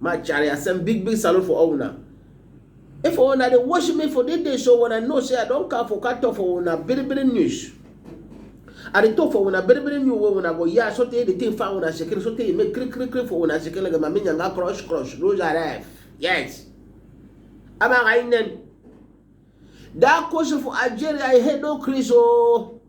My chari, I send big big salute for all una. If una dey watch me for this day show, una know say I don come for catch up for una very very news. I dey talk for una very very new way una go hear so tey the thing find una shekere so tey e make kiri kiri kiri for una shekere like mami nyanga crush crush lose her life. Yes. Ama ka inen. That question for Algeria, I head no Chris oh.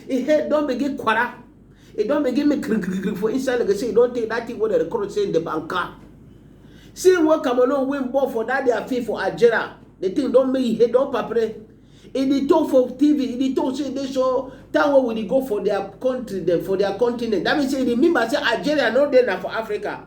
He head don't begin quarter. He don't begin me krik krik krik for inside like I say, he don't take that thing what the record say in the banker. See what Cameroon win ball for that their fee for Algeria. The thing don't make he head don't papre. He dey talk for TV, he dey talk say they show that way we dey go for their country, then for their continent. That means say he remember say Algeria no dey na for Africa.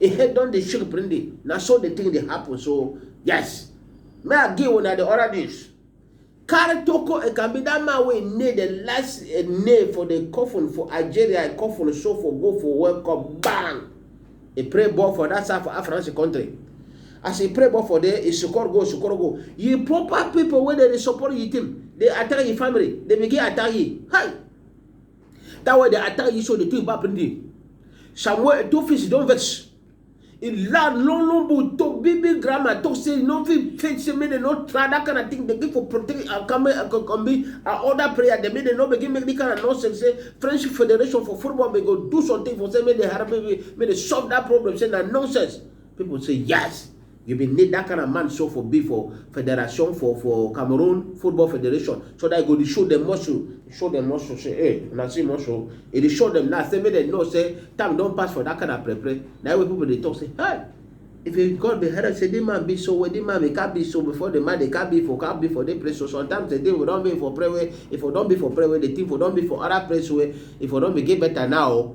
e head don dey shake prende na so the thing dey happen so yes may i give una the other news carry toko ekambi that man wey nail the last uh, nail for the coffin for algeria e coffin so for go for world cup bang e pray ball for that side for african country as e pray ball for there e score goal score goal you proper people wey dey dey support you team dey attack your family dey begin attack you hi That way they attack you so the thing bad plenty. Samuel two fish don't vex. In land long long boot to baby grandma to say no fit fit say me they not try that kind of thing they give for protect and come and come be and other prayer they mean they no begin make the kind of nonsense say French Federation for football may go do something for say me they have me me they solve that problem say that nonsense. People say yes. You bin need that kind of man so for be for federation for for Cameroon football federation so that you go dey show dem muscle show dem muscle say hey una see muscle e dey show dem now say make dem know say time don pass for that kind of pre pre na why people dey talk say hey if you God be head say this man be so well this man be can be so before the man dey can be for can be for the place so sometimes the day we don be for pray well if we don be for pray well the thing for don be for other place well if we don be get better now.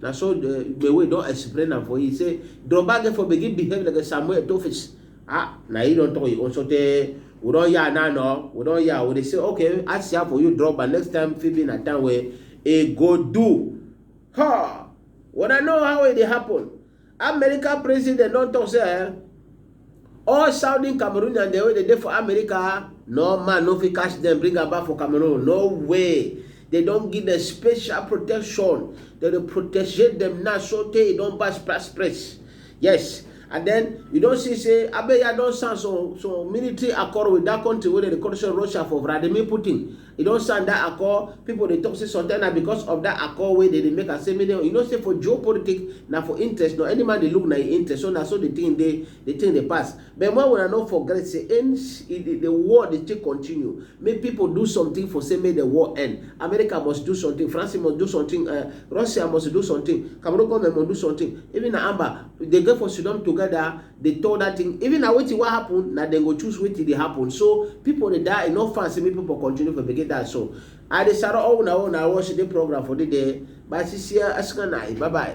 na so the Igbewe don explain am for you say Drogba get for begin behave like a Samuel Tofis ah na he don talk you also tey we don yarn now no we don yarn we dey say okay I see am for you Drogba next time fit be na time wey e go do ha when I know how e dey happen America president don talk say eh, all Southern Cameroonians dem wey dey dey for America, no man no fit catch dem bring am back for Cameroon, no way. They don give them special protection. They dey protect them now so tey e don pass pass press. Yes, and then you don see say Abeya don sign some some military accord with that country wey dem dey call say Russia for Vladimir Putin. E don sign dat accord, pipo dey tok say sometimes na becos of dat accord wey dem dey make am say make dem, you know say for geopolitics na for interest no, any man dey look na im interest so na so di tin dey, di tin dey pass. But make una no forget say en e di di war dey still continue, make pipo do sometin for say make di war end, America must do sometin, France must do sometin eh, Russia must do sometin, Cameroon goment must do sometin, even na Amba dey get for siddon togeda, dey talk that thing even na wetin wan happen na dem go choose wetin dey happen so people dey die e no fine say make people continue for begin die so i dey sara all una wey una watch the program for the day bye see see ya asina na bye bye.